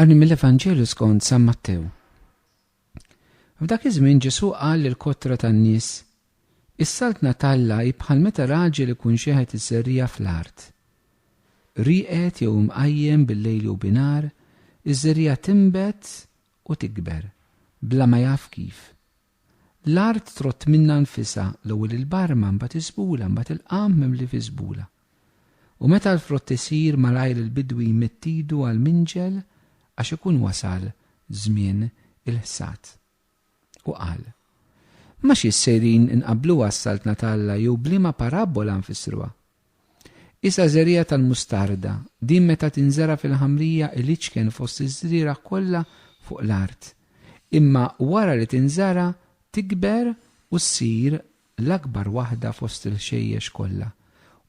Għani mill-Evanġelju skont San Mattew. F'dak iż-żmien Ġesu qal lil kotra tan-nies, Is-saltna talla hi bħal meta raġel ikun xeħet iż-żerrija fl-art. Rieqed jew imqajjem bil-lejl jew binar, iż-żerrija timbet u tikber, bla ma jaf kif. L-art trott minnha nfisha, l-ewwel il-barma, mbagħad iż-żbula, mbagħad il-qamħ mimli fiż-żbula. U meta l-frott isir, malajr il-bidwi jmidd idu għall-minġel għax ikun wasal żmien il-ħsad. U qal, Ma xi ssejrin inqabbluha s-Saltna t'Alla jew b'liema parabbola nfissruha? Isha żerriegħa tal-mustarda, din meta tinżera' fil-ħamrija iliċken fost iż-żrieragħ kollha fuq l-art. Imma wara li tinżara' tikber u ssir l-akbar waħda fost il-ħxejjex kollha,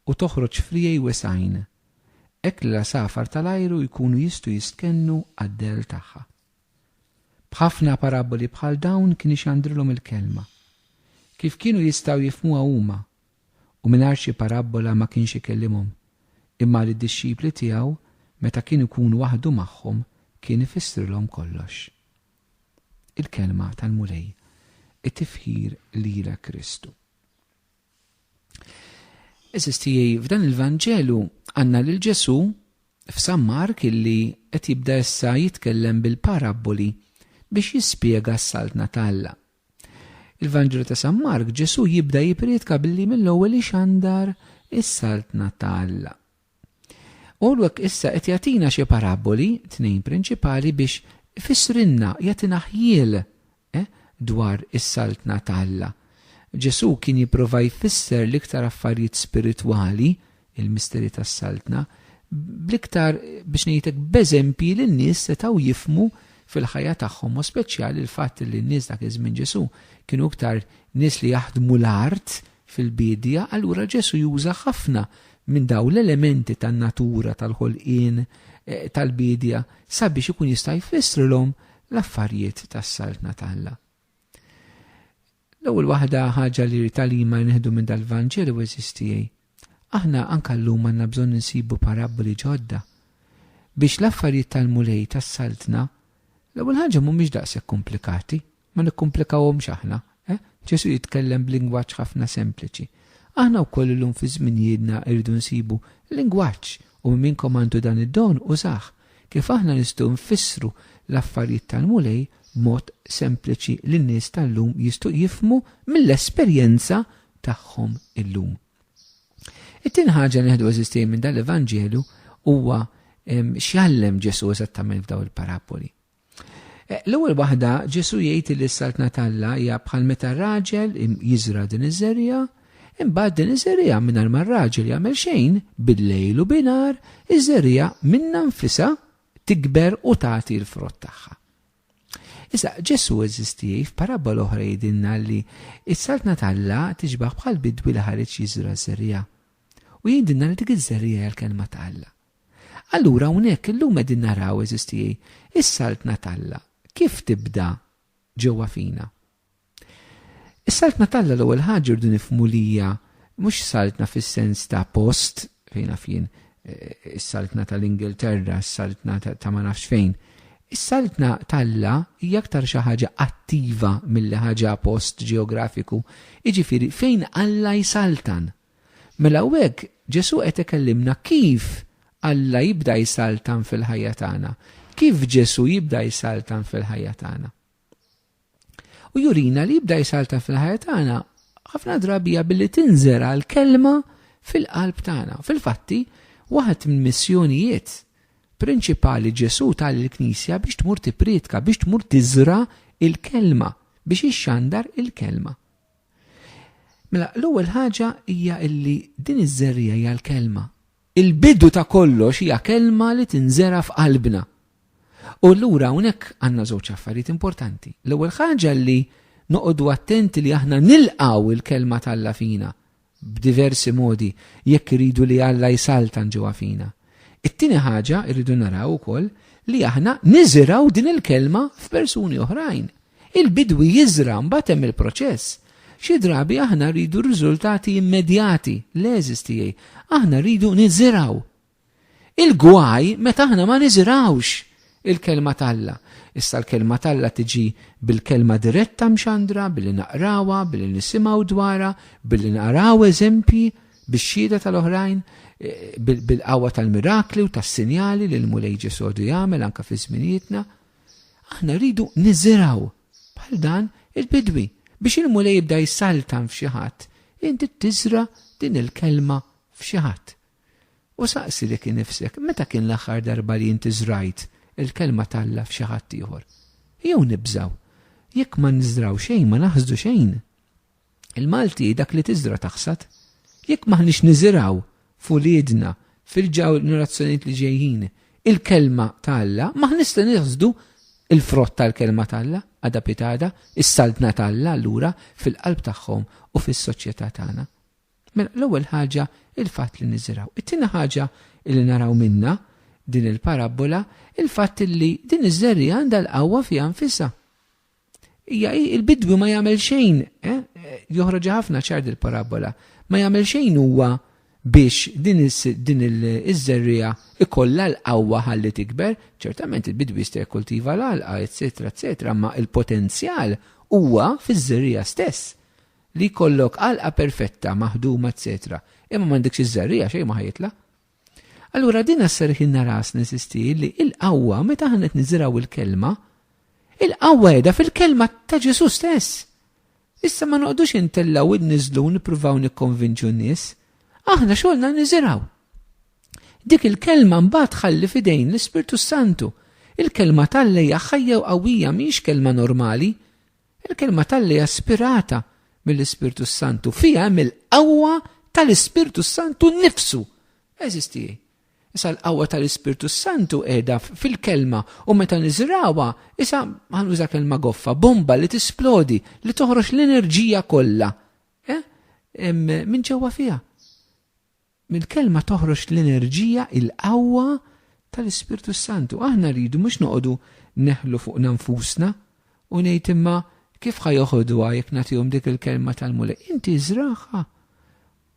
u toħroġ friegħi wesgħin, hekk li l-għasafar tal-ajru jkunu jistgħu jistkennu għad-dell tagħha. B'ħafna paraboli bħal dawn kien ixandrilhom il-Kelma. Kif kienu jistgħu jifhmuha huma? u mingħajr xi parabbola ma kienx ikellimhom, imma lid-dixxipli tiegħu meta kien ikun waħdu magħhom kien ifissrilhom kollox. Il-Kelma tal-Mulej, it-tifħir lilek Kristu. Eżis tiegħi, f'dan il-Vanġelu għandna lil Ġesù f'San Mark illi qed jibda issa jitkellem bil-parabboli biex jispjega s-saltna t'Alla. Il-Vanġelu ta' San Mark, Ġesù jibda jipriedka billi mill-ewwel ixandar is-Saltna ta' Alla. U għek issa qed jagħtina xi paraboli, tnejn prinċipali biex ifissrinna jagħtina ħjiel eh, dwar is-Saltna ta' Alla. Ġesù kien jipprova jfisser l-iktar affarijiet spiritwali il-misteri tas-Saltna, bl-iktar biex ngħidlek b'eżempji li n-nies setgħu jifhmu fil-ħajja tagħhom, mod speċjali l-fatt li n-nies dak iż-żmien Ġesù kienu iktar nies li jaħdmu l-art fil-biedja, allura Ġesù juża ħafna minn dawn l-elementi tan-natura, tal-ħolqien, eh, tal-biedja sabiex ikun jista' jfissrilhom l-affarijiet tas-Saltna t'Alla. L-ewwel waħda ħaġa li rrid għalima nieħdu minn dal-Vanġelu għeżież tiegħi, aħna anke llum għandna bżonn insibu parabboli ġodda. Biex l-affarijiet tal-Mulej tas-Saltna, l-ewwel ħaġa mhumiex daqshekk komplikati, ma nikkumplikawhomx aħna, eh, Ġesù jitkellem b'lingwaġġ ħafna sempliċi. Aħna wkoll illum fi żminijiedna rridu nsibu lingwaġġ u min minnkom għandu dan id-don użah. Kif aħna nistgħu nfissru l-affarijiet tal-Mulej b'mod sempliċi li n-nies tal-lum jistgħu jifhmu mill-esperjenza tagħhom illum? It-tieni ħaġa li nieħdu eżistej minn dan l-Evanġelju huwa x'jgħallem Ġesù eżattament f'dawn il-paraboli. L-ewwel waħda, Ġesù jgħid li s-saltna t'Alla hija bħal meta raġel jiżra' din iż-żerriegħa, imbagħad din iż-żerriegħa mingħajr ma r-raġel jagħmel xejn, bil-lejl u binhar, iż-żerriegħa minnha nfisha tikber u tagħti l-frott tagħha. Issa, Ġesù eżistieħ f'parabbola oħra jgħidilna li s-saltna t'Alla tixbah bħal bidwi li ħareġ jiżra' ż-żerriegħa. U jgħidilna li dik iż-żerriegħa hija l-kelma t'Alla. Allura hawnhekk illum qegħdin naraw, għeżież tiegħi, is-Saltna t'Alla kif tibda ġewwa fina. Is-Saltna t'Alla l-ewwel ħaġa rridu nifhmu li hija mhux saltna fis-sens ta' post fejn naf jien eh, is-saltna tal-Ingilterra, is-saltna ta' ma nafx fejn. Is-saltna t'Alla hija aktar xi ħaġa attiva mill ħaġa post ġeografiku, jiġifieri fejn Alla jsaltan. Mela hawnhekk Ġesù qed ikellimna kif Alla jibda jsaltan fil-ħajja tagħna, kif Ġesù jibda jsaltan fil-ħajja tagħna. U jurina li jibda jsaltan fil-ħajja tagħna ħafna drabija billi tinżera l-kelma fil-qalb tagħna. Fil-fatti, waħed minn missjonijiet prinċipali Ġesù tal il-Knisja biex tmur tipritka, biex tmur tiżra il-kelma, biex ixxandar il-kelma. Mela, l-ewwel ħaġa hija illi din iż-żerriegħa hija l-kelma. Il-bidu ta' kollox hija kelma li tinżera f'qalbna. U allura hawnhekk għandna żewġ affarijiet importanti. L-ewwel ħaġa li noqogħdu attenti li aħna nilqgħu il-kelma t'Alla fina b'diversi modi jekk iridu li Alla jsaltan ġewwa fina. It-tieni ħaġa rridu naraw ukoll li aħna niżiraw din il-kelma f'persuni oħrajn. Il-bidwi jiżra' mbagħad hemm il-proċess. Xi drabi aħna rridu riżultati immedjati, leżis tiegħi, aħna rridu niżirgħu. Il-gwaj meta aħna ma niżirgħux il-Kelma t'Alla. Issa l-Kelma t'Alla tiġi bil-Kelma diretta mxandra, billi naqrawha, billi nisimgħu dwarha, billi naraw eżempji bix-xhieda tal-oħrajn, bil-qawwa tal-mirakli u tas-sinjali li l-Mulej Ġesù għadu jagħmel anke fi żminijietna. Aħna rridu niżiraw bħal dan il-bidwi biex il-mulej jibda jsaltan f'xi ħadd. Inti tiżra din il-kelma f'xi ħadd. U saqsi li kien nifsek, meta kien l-aħħar darba li inti żrajt il-kelma talla f'xi ħadd ieħor? Jew nibżaw, jekk ma nżraw xejn ma naħsdu xejn. Il-Malti dak li tiżra' taħsad. Jekk m'aħniex niżirgħu f'uliedna, fil-ġenerazzjonijiet li ġejjin, il-Kelma ta' Alla, m'aħniex se naħsdu l-frott tal-Kelma ta' Alla, għada pitada, is-Saltna ta' Alla allura, fil-qalb tagħhom u fis-soċjetà tagħna. Mela, l-ewwel ħaġa, il-fatt li niżirgħu. It-tieni ħaġa li naraw minnha din il-parabbola, il-fatt li din iż-żerriegħa għandha l-qawwa fiha nfisha. Ija, il-bidwi ma jagħmel xejn, eh? joħroġ ħafna ċar il parabola ma jagħmel xejn huwa biex din iż-żerrija ikollha l-qawwa ħalli tikber, ċertament il-bidwi jista' jikkultiva l-għalqa, eċetera, eċetera, ma il-potenzjal huwa fiż-żerrija stess li jkollok għalqa perfetta, maħduma, eċetera. Imma m'għandekx iż-żerrija xejn ma ħajitla. Allura din asserħilna rasna sisti li il-qawwa meta aħna qed niżirgħu il-kelma, il-qawwa qiegħda fil-kelma ta' Ġesù stess. Issa ma noqdux intellgħu id niżlu nippruvaw nikkonvinċu n-nies. Aħna xogħolna niżirgħu. Dik il-kelma mbagħad ħalli fidejn l-Ispirtu Santu. Il-kelma tal-lejja ħajja u qawwija mhix kelma normali. Il-Kelma t'Alla hija spirata mill-Ispirtu s-Santu, fiha hemm il-qawwa tal-Ispirtu s-Santu nnifsu. Għeżież tiegħi, issa l-qawwa tal-Ispirtu s-Santu qiegħda fil-Kelma u meta niżragħuha, issa ħa nuża kelma goffa, bomba li tisplodi, li toħroġ l-enerġija kollha minn ġewwa fiha. Mill-Kelma toħroġ l-enerġija, il-qawwa tal-Ispirtu s-Santu. Aħna rridu mhux noqogħdu neħlu fuqna nfusna u ngħid imma kif ħa joħodhuha jekk nagħtihom dik il-Kelma tal-Mulej. Inti żragħha.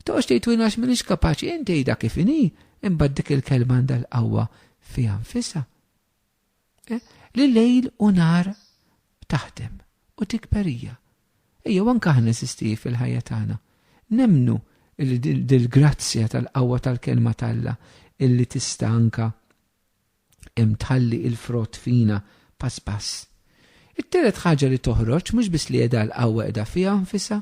Toqgħodx tgħid u għax m'iniex kapaċi, inti għidha kif inhi, imbagħad dik il-Kelma għandha l-qawwa fiha nfisha. Eh, li lejl u nar taħdem u tikber hija. Ejjew anke aħna nesisti fil-ħajja tagħna. Nemnu li dil-grazzja tal-qawwa tal-kelma talla illi tista' anka tħalli il-frott fina pass pass. It-telet ħaġa li toħroġ mhux biss li qiegħda l-qawwa qiegħda fiha nfisha,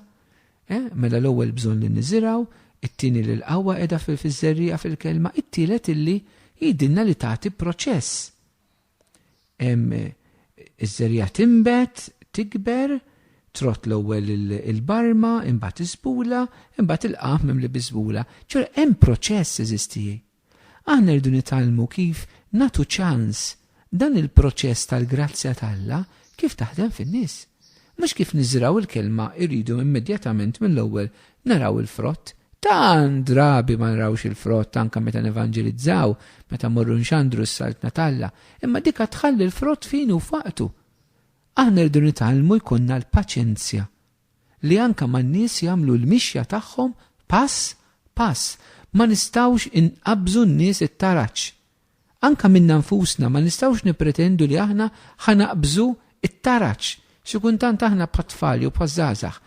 Eh, mela l-ewwel bżonn li niżirgħu, it-tieni li l-qawwa qiegħda fil-fiż-żerriegħa fil-kelma, it-tielet illi jgħidilna li tagħti proċess. Hemm eh, iż-żerriegħa tinbet, tikber, trott l-ewwel il-barma, imbagħad iżbula, imbagħad il-qaf mimli biżbula. Ġur hemm proċess eżistijie. Aħna rridu nitgħallmu kif nagħtu ċans dan il-proċess tal-grazzja t'Alla kif taħdem fin-nies. Mhux kif niżrgħu l-kelma rridu immedjatament mill-ewwel naraw il-frott. Tant drabi ma nrawx il-frott anke meta nevanġelizzaw, meta mmorru nxandru s-Saltna t'Alla, imma dik għad tħalli l-frott f'ħinu u f'waqtu. Aħna rridu nitgħallmu jkunna l-paċenzja li anke man-nies jagħmlu l-mixja tagħhom pass pass. Ma nistgħux inqabżu n-nies it-taraġ. Anke minna nfusna ma nistgħux nippretendu li aħna ħa naqbżu t-taraġ. Xi kuntant aħna bħat-tfal jew bħaż-żgħażagħ.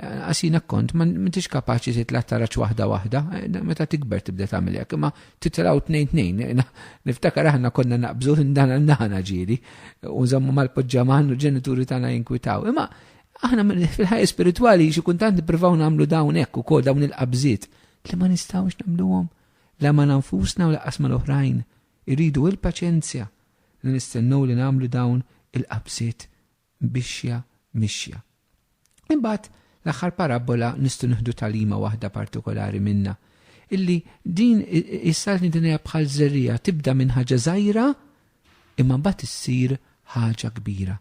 Anqas jien hekk kont, m'intix kapaċi titla' t-taraġ waħda waħda. Meta tikber tibda tagħmel hekk, imma titilgħu tnejn tnejn. Niftakar aħna konna naqbżu minn dan għal dan ġieli u nżommu mal-poġġaman u l-ġenituri tagħna jinkwitaw. Imma Aħna fil-ħajja spiritwali xi kuntant nippruvaw nagħmlu dawn hekk ukoll dawn il-qabżiet li ma nistgħux nagħmluhom la ma nfusna u laqas ma l-oħrajn. Irridu il-paċenzja li nistennew li nagħmlu dawn il-qabżiet bixja mixja. Imbagħad l-aħħar parabbola nistgħu nieħdu talima waħda partikolari minna illi din is-saltni din hija bħal żerrija tibda minn ħaġa żgħira imma mbagħad issir ħaġa kbira.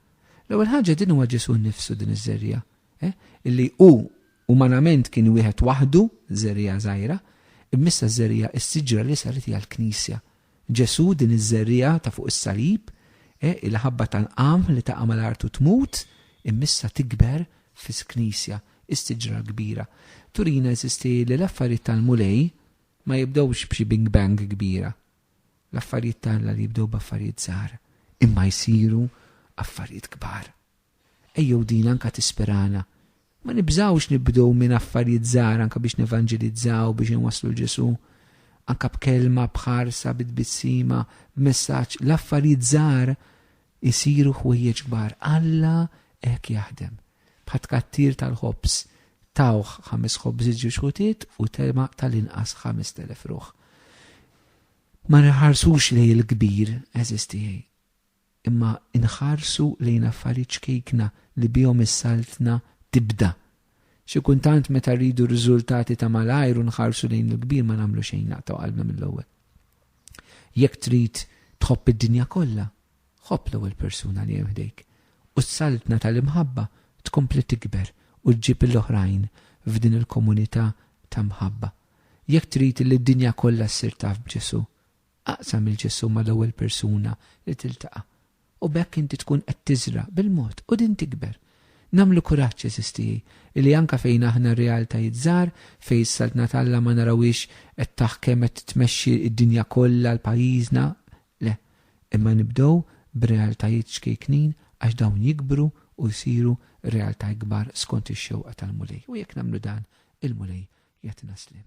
L-ewwel ħaġa din huwa Ġesù nnifsu din iż-żerriegħa, eh, illi hu umanament kien wieħed waħdu, żerriegħa żgħira, immissa ż-żerriegħa is-siġra li saret hija l-Knisja. Ġesù din iż-żerriegħa ta' fuq is-salib, eh, il-ħabba tal-qamħ li taqa' mal-art u tmut, immissa tikber fis-Knisja, is-siġra l-kbira. Turina eżisti li l-affarijiet tal-Mulej ma jibdewx b'xi bing bang kbira. L-affarijiet ta' Alla li jibdew b'affarijiet żgħar imma jsiru affarijiet kbar. Ejjew din anke tispirana. Ma nibżgħux nibdew minn affarijiet żgħar anke biex nevanġelizzaw, biex inwasslu 'l Ġesù. Anke b'kelma, b'ħarsa, bi tbissima, b'messaġġ, l-affarijiet żgħar Isiru ħwejjeġ kbar. Alla hekk jaħdem. Bħat-tkattir tal-ħobż. Tawh ħames ħobżiet ġiex ħutiet u telgħa tal-inqas ħamest elef ruħ. Ma nħarsux lejn il-kbir, għeżież tiegħi. Imma nħarsu lejn affarijiet ċkejkna li bihom is-Saltna tibda Xi kultant meta rridu r-riżultati ta' malajr u nħarsu lejn il-kbir ma nagħmlu xejn naqtgħu qalbna mill-ewwel. Jekk trid tħobb id-dinja kollha, ħobb l-ewwel persuna li hemm ħdejk, u s-saltna tal-imħabba tkompli tikber u ġġib il-oħrajn f'din il-komunità ta' mħabba. Jekk trid li d-dinja kollha ssir taf b'Ġesù, Aqsam il-ġesù mal-ewwel persuna li tiltaqa', u b'hekk inti tkun qed tiżra' bil-mod u din tikber. Nagħmlu kuraġġ, għeżież tiegħi, illi anke fejn aħna realtajiet żgħar, fejn is-Saltna t'Alla ma narawhiex qed taħkem qed tmexxi d-dinja kollha, l-pajjiżna, le, imma nibdew b'realtajiet ċkejknin għax dawn jikbru u jsiru realtà ikbar skont ix-xewqa tal-Mulej. U jekk nagħmlu dan, il-Mulej jagħtina sliem.